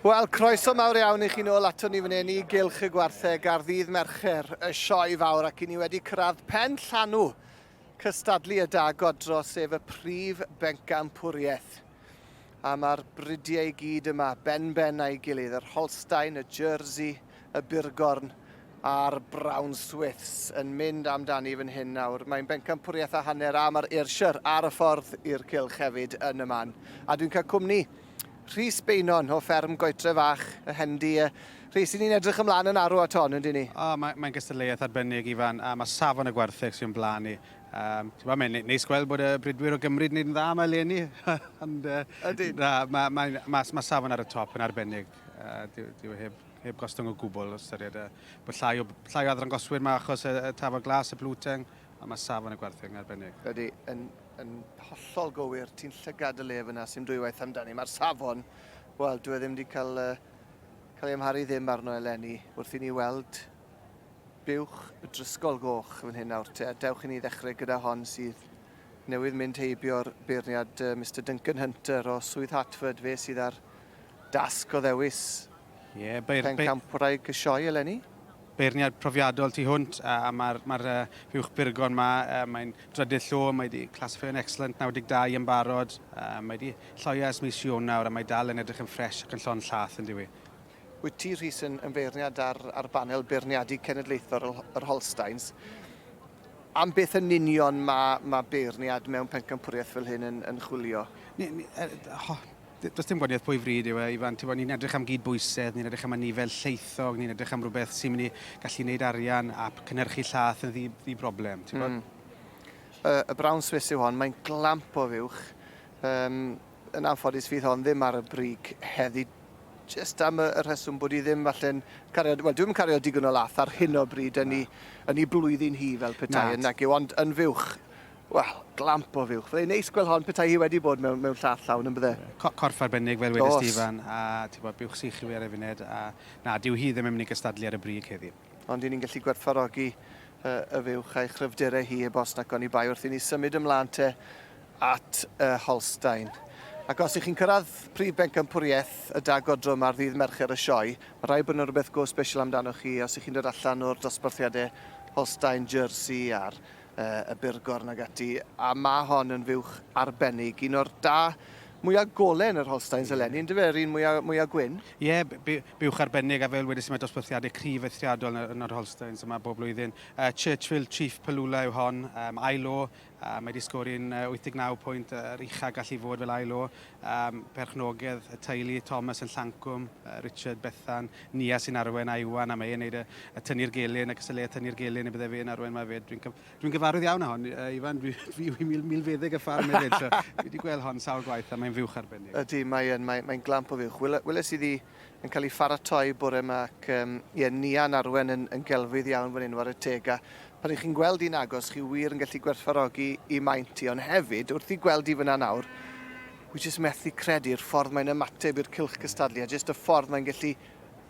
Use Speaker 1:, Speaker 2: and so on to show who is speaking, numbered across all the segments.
Speaker 1: Wel, croeso mawr iawn i chi nôl ato ni fan hyn i gylch y gwartheg ar ddydd Mercher, y sioe fawr, ac i ni wedi cyrraedd pen llanw cystadlu y da godro, sef y prif bencampwriaeth. A mae'r bridiau i gyd yma, ben-ben a'i gilydd, yr Holstein, y Jersey, y Burgorn a'r Brown Swifts yn mynd amdani fan hyn nawr. Mae'n bencampwriaeth a hanner a mae'r Ayrshire ar y ffordd i'r cylch hefyd yn y man. A dwi'n cael cwmni Rhys Beynon o fferm Goetre Fach, y Hendy. Rhys, i ni'n edrych ymlaen yn arw at hon, yn dyn ni? O, mae'n mae gystadleuaeth
Speaker 2: arbennig, Ifan, a mae safon y gwartheg sy'n blaen ni. Um, ti'n mae'n neis gweld bod y bridwyr o Gymru yn gwneud yn dda yma eleni. Ond, uh, Ydy. Na, mae, mae, mae, mae safon ar y top yn arbennig. Uh, dyw, dyw e heb heb gostwng o gwbl os ystyried y bod llai o, llai o adrangoswyr mae achos y, y tafod glas, y blwteng, a mae safon y gwerthu'n arbennig. Ydy, yn
Speaker 1: Yn hollol gywir, ti'n llygad y le fyna, sy'n dwywaith amdani. Mae'r safon, wel, dwi e ddim wedi cael, uh, cael ei amharu ddim arno eleni wrth i ni weld buwch y drysgol goch fan hyn nawr te. Dewch i ni ddechrau gyda hon sydd newydd mynd heibio'r beirniad uh, Mr Duncan Hunter o Swydd Hartford, fe sydd ar Dasg o ddewis Ie, beir- beir- pencampwraig y sioe eleni. beirniad
Speaker 2: profiadol tu hwnt a mae'r ma uh, fuwch burgon ma, uh, mae'n drydydd llo, mae wedi classifio'n excellent 92 yn barod, uh, mae wedi lloio ers mis Ionawr a mae dal yn edrych yn ffres ac yn llon llath yn diwy. Wyt ti, Rhys,
Speaker 1: yn, yn feirniad ar, ar banel beirniadu cenedlaethol yr, yr Holsteins. Am beth yn union mae, mae beirniad mewn pencampwriaeth fel hyn yn, yn chwilio? Ni, ni, uh, ho,
Speaker 2: Does dim gwahaniaeth pwy fryd yw e, Ifan. Tibod, ni'n edrych am gyd-bwysedd, ni'n edrych am anifail lleithog, ni'n edrych am rhywbeth sy'n mynd i gallu gwneud arian a cynhyrchu llath yn ddi, ddi broblem, ti'n gwybod?
Speaker 1: Mm. Y, y brown Swiss yw hon, mae'n glamp o fuwch. Um, yn anffodus fydd hon ddim ar y brig heddi just am y, y rheswm bod i ddim falle'n cario, wel dwi'n cario digon o lath ar hyn o bryd yn ei, yn ei blwyddyn hi fel petai yn nag yw, ond yn fuwch Wel, glamp o fuwch. Byddai'n neis gweld hon petai hi wedi bod mewn, mewn llath llawn yn bydde? Co corff arbennig fel
Speaker 2: wedys ti Ifan, a ti'n gwybod, buwch sych yw e ar ei funed, a na, dyw hi ddim yn mynd i gystadlu ar y brig heddi. Ond i ni'n gallu gwerthfawrogi
Speaker 1: y, y fuwch a'i chryfderau hi heb os nac oni bai wrth i ni symud ymlaen te at y Holstein. Ac os i chi'n cyrraedd prif bencampwriaeth y da godrwm ar ddydd Mercher y sioe, mae rhaid bod yna rhywbeth go special amdanoch chi os i chi'n dod allan o'r dosbarthiadau Holstein, Jersey a'r y byrgorn ac ati, a ma' hon yn fuwch arbennig, un o'r da mwya gole yn yr Holsteins eleni, yndyfe, yr un mwya, mwya gwyn? Ie,
Speaker 2: buwch arbennig, a fel wedes i mae dosbarthiadau cryf eithriadol yn, yn yr Holsteins yma bob blwyddyn. Uh, Churchill Chief Palula yw hon, um, ail o, uh, mae wedi sgori'n uh, 89 pwynt, yr uh, ucha gallu fod fel ail o, Am perchnogaeth y teulu, Thomas yn Llancwm, Richard, Bethan, Nia sy'n arwain a Iwan a mae e'n neud y tynnu'r gelyn ac ysylleia tynnu'r gelyn y bydde fe'n arwain mae fe. Dwi'n dwi'n gyfarwydd iawn â hon Iwan dwi dwi yw mil milfeddyg y ffarm hefyd so dwi wedi gweld hon sawl gwaith a mae'n fuwch arbennig. Ydi mae yn mae mae'n glamp o
Speaker 1: fuwch. Wele- weles iddi yn cael ei pharatoi bore yma ac um, ie, Nian Arwen yn, yn gelfydd iawn fan hyn war y teg a pan ych chi'n gweld i'n agos chi wir yn gallu gwerthfarogi i maint i ond hefyd wrth i gweld i fyna nawr wi jyst methu credu'r ffordd mae'n ymateb i'r cilch cystadlu a jyst y ffordd mae'n gallu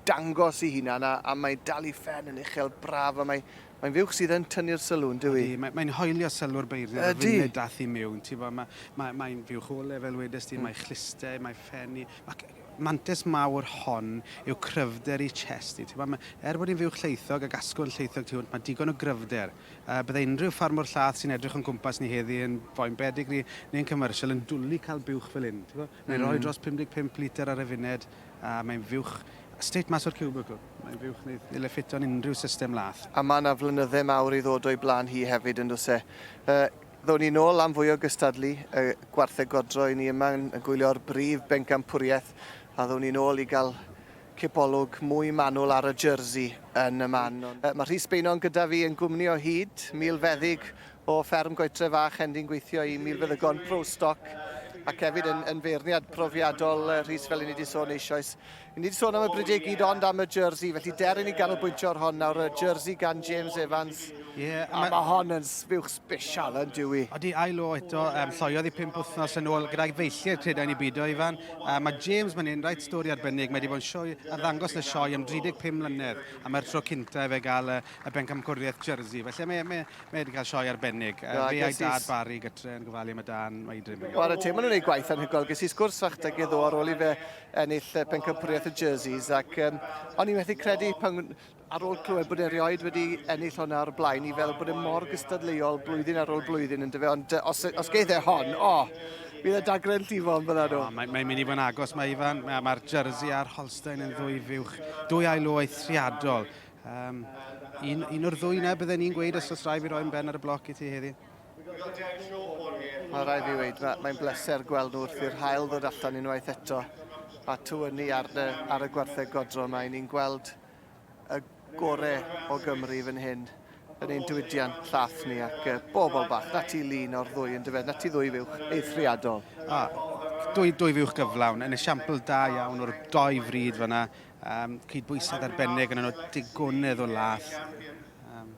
Speaker 1: dangos i hunan a, a mae dal i ffen yn uchel braf a mae, mae'n fuwch sydd yn tynnu'r sylw yn dywi. Mae'n mae hoelio sylw'r
Speaker 2: beirniad y funud dath i miwn. Ti'n bod, mae'n mae, mae fuwch o lefel wedys ti, mm. mae chlister, mae ffenni, mae mantais mawr hon yw cryfder i chest i. Ti'n gwbod, ma', er bod hi'n fuwch llaethog ac asgwrn llaethog tu hwnt, mae digon o gryfder. Yy, bydde unrhyw ffarmwr llath sy'n edrych o'n cwmpas ni heddi yn Foyne Pedigree neu yn Commercial yn dwli cael buwch fel hyn, ti'n gwbod? Mae'n rhoi dros 55 litr ar y funud a mae'n fuwch straight mas o'r cubicle. Mae'n fuwch wneith ddyle ffito'n unrhyw system lath. A mae 'na flynydde
Speaker 1: mawr i ddod o'i blaen hi hefyd, yn does e? Yy, Ddown ni nôl am fwy o gystadlu y gwartheg godro i ni yma yn gwylio'r brif bencampwriaeth a ddown ni nôl i gael cipolwg mwy manwl ar y jersey yn y man. Mae Rhys Beynon gyda fi yn gwmni o hyd, milfeddyg o fferm Goetre Fach, Hendy'n gweithio i milfeddygon Pro Stock ac hefyd yn, yn feirniad profiadol Rhys fel i ni wedi sôn eisoes. Ni wedi sôn am y bridiau gyd ond am y jersey, felly deryn ni ganolbwyntio ar hon nawr, y jersey gan James Evans. Ie. Yeah, a mae hon yn sbiwch special yn dwi. Odi ail o eto,
Speaker 2: um, lloiodd i pimp wythnos yn ôl gyda'i feilliau credau ni byd o Ifan. Uh, mae James mae'n un rhaid stori arbennig, mae wedi bod yn sioe a ddangos y sioe am 35 mlynedd, a mae'r tro cynta efe gael y, y bencamcwriaeth jersey, felly mae, mae, mae wedi cael sioe arbennig. Uh, no, fe a'i
Speaker 1: dad
Speaker 2: Barry gytre yn
Speaker 1: gofalu
Speaker 2: am y dan, mae i drin. Wel, y tîm yn gwneud
Speaker 1: gwaith anhygoel, ges i sgwrs fach da gyda ar ôl i fe ennill pencampwriaeth y Jerseys ac um, o'n i'n methu credu pan ar ôl clywed bod erioed wedi ennill hwnna ar y blaen i feddwl bod e mor gystadleuol blwyddyn ar ôl blwyddyn yn dyfe ond os, os geith e hon, o, oh, bydd y dagren llifo yn fyna nhw. Oh, Mae'n mae mynd i fod yn agos,
Speaker 2: mae Ifan, mae'r ma Jersey a'r Holstein yn ddwy fiwch, dwy ail o eithriadol. Um, un, un o'r ddwy na bydden ni'n gweud os oes rai fi roi'n ben ar y bloc i ti heddi.
Speaker 1: Mae rhaid fi weud, mae'n bleser gweld nhw wrth i'r haul ddod allan unwaith eto a tywynnu ar, ar y gwartheg godro mae ni'n gweld y gore o Gymru fan hyn yn ein diwydiant llath ni ac uh, bobl bach, na ti lun o'r ddwy yn dyfed, na ti ddwy fuwch eithriadol. A, dwy,
Speaker 2: dwy fuwch gyflawn, yn esiampl da iawn o'r doi fryd fyna, um, cydbwysedd arbennig yn yno digonydd o lath. Um,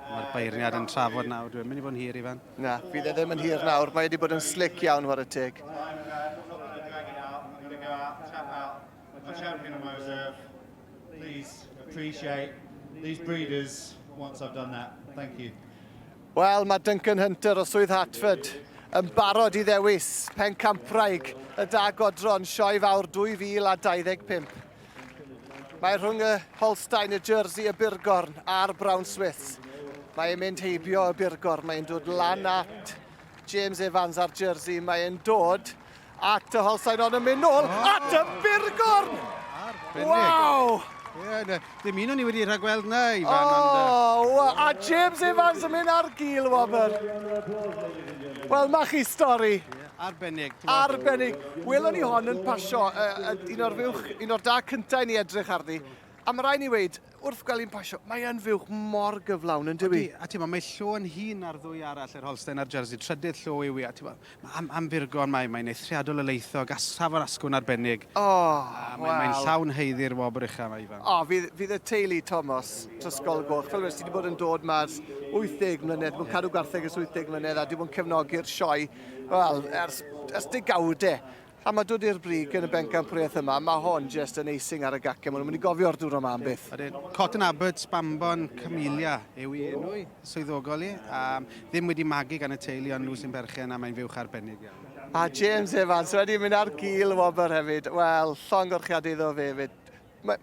Speaker 2: Mae'r beirniad yn trafod nawr. Dwi'n mynd i fod yn hir, Ifan. Na, fydd e ddim yn
Speaker 1: hir nawr. Mae wedi bod yn slic iawn, war y teg. The champion of Mosef,
Speaker 3: please appreciate these breeders once I've done that. Thank you. Wel, mae
Speaker 1: Duncan Hunter o Swydd Hartford yn barod i ddewis pen campwraig y da godron sioe fawr 2025. Mae rhwng y Holstein, y Jersey, y Burgorn a'r Brown Swiss. Mae e'n mynd heibio y Burgorn, mae'n dod lan at James Evans a'r Jersey, mae'n dod at y Holstein ond yn mynd nôl oh. at y Burgorn! Waw! Yeah,
Speaker 2: dim un o'n i wedi rhagweld na, Ifan. Oh, ond,
Speaker 1: a
Speaker 2: James Evans
Speaker 1: yn mynd ar gil, Wobr. Wel, mae chi stori. Yeah. Arbennig.
Speaker 2: Arbennig.
Speaker 1: Welon ni hon yn pasio, uh, un o'r fuwch, un o'r da cyntaf i ni edrych arni. A mae rai ni weid, wrth gael un pasio, mae yn fuwch mor gyflawn yn dywi. A ti mae llo yn
Speaker 2: hun ar ddwy arall, yr Holstein a'r Jersey. Trydydd llo yw i, a ti mae am, am furgon, mae, mae'n eithriadol o leithog, asraf o'r asgwn arbennig. O, oh, mae, wow. Mae'n llawn heiddi'r wobr uchaf yma, Ifan. O, oh, fydd, fydd y teulu
Speaker 1: Thomas, Trysgol Goch, fel wedi bod yn dod mas 80 mlynedd, mae'n cadw gwartheg ys 80 mlynedd, a di bod yn cefnogi'r sioe Wel, ers, ers degawdau. A mae dod i'r brig yn y bencampwriaeth yma, mae hon jyst yn eising ar y gacau. Maen nhw'n mynd i gofio'r diwrnod yma am byth. Ydyn. Cotton Abbots,
Speaker 2: Bambon, Camellia yw i enw i, swyddogol i. A ddim wedi magu gan y teulu ond nhw sy'n berchen a mae'n fuwch arbennig iawn. A James
Speaker 1: Evans wedi mynd ar gil wobr hefyd. Wel, llong gorchiadau iddo fe hefyd. Mae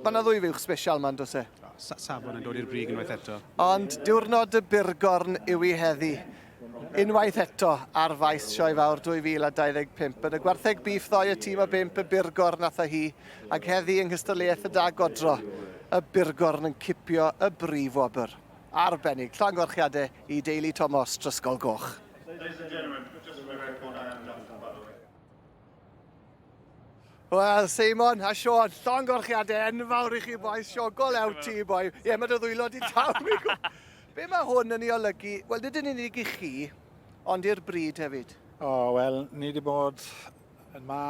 Speaker 1: ma yna ddwy fuwch sbesial ma'n dos e? Sa safon yn dod i'r
Speaker 2: brig unwaith eto. Ond diwrnod
Speaker 1: y burgorn yw i heddi. Unwaith eto ar faes Sioe Fawr 2025. Yn y gwartheg bif ddoe y tîm o bimp y burgorn a hi, ac heddi yng nghystadleuaeth y da godro, y burgorn yn cipio y brif wobr. Arbennig, llongyfarchiadau i deulu Tomos, Drysgol Goch. Ladies and gentlemen, just for the record, I am Jonathan Butler. Wel, Seimon a Sean, llongorchiadau enfawr i chi boes, siogol ew ti boi. Ie, mae dy ddwylo di taw. Be mae hwn yn ei olygu? Wel, nid yn unig i chi, ond i'r bryd hefyd. O, wel, ni
Speaker 4: wedi bod yn ma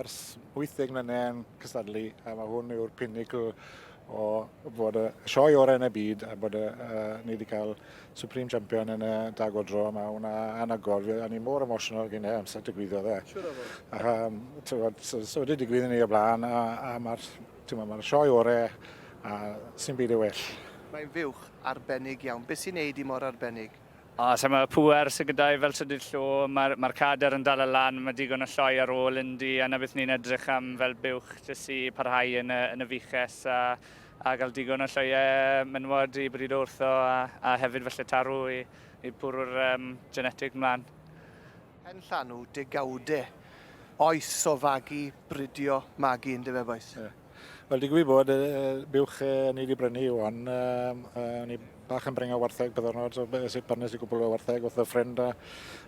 Speaker 4: ers 80 mlynedd yn cystadlu, a mae hwn yw'r pinnacle o bod y sioe orau yn y byd, a bod y, uh, ni wedi cael Supreme Champion yn y dag o dro yma, hwnna anagol. Fi, o'n i mor emotional gen i amser digwyddodd e. Siwr o fod. A, um, tywod, so, so wedi digwydd yn ei o blaen, a, a mae'r ma sioe orau, a sy'n byd ei well. Mae'n fuwch
Speaker 1: arbennig iawn. Beth sy'n neud i mor arbennig? O, so mae
Speaker 5: pwer sy'n gyda i fel trydydd llo, mae'r ma cader yn dal y lan, mae digon o lloi ar ôl Indy, a na beth ni'n edrych am fel buwch jyst i parhau yn y, yn y fuches, a A cael digon o sioeau menywod i brido wrtho a, a hefyd falle taru i, i bwrw'r um, genetig mlaen. Hen
Speaker 1: llanw degawde oes o fagu, bridio, magu, yn dyfe boes? Yeah. Wel, di gwybod
Speaker 4: bod, uh, buwch uh, ni wedi brynu yw hon. Um, uh, ni bach yn brenga wartheg byddwn nhw, so sut pan nes i gwbl o wartheg wrth y ffrind. A,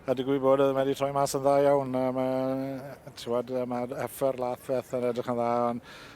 Speaker 4: a di gwybod bod, uh, mae wedi troi mas yn dda iawn. Uh, mae, tiwad, uh, mae effer lath feth yn edrych yn dda, ond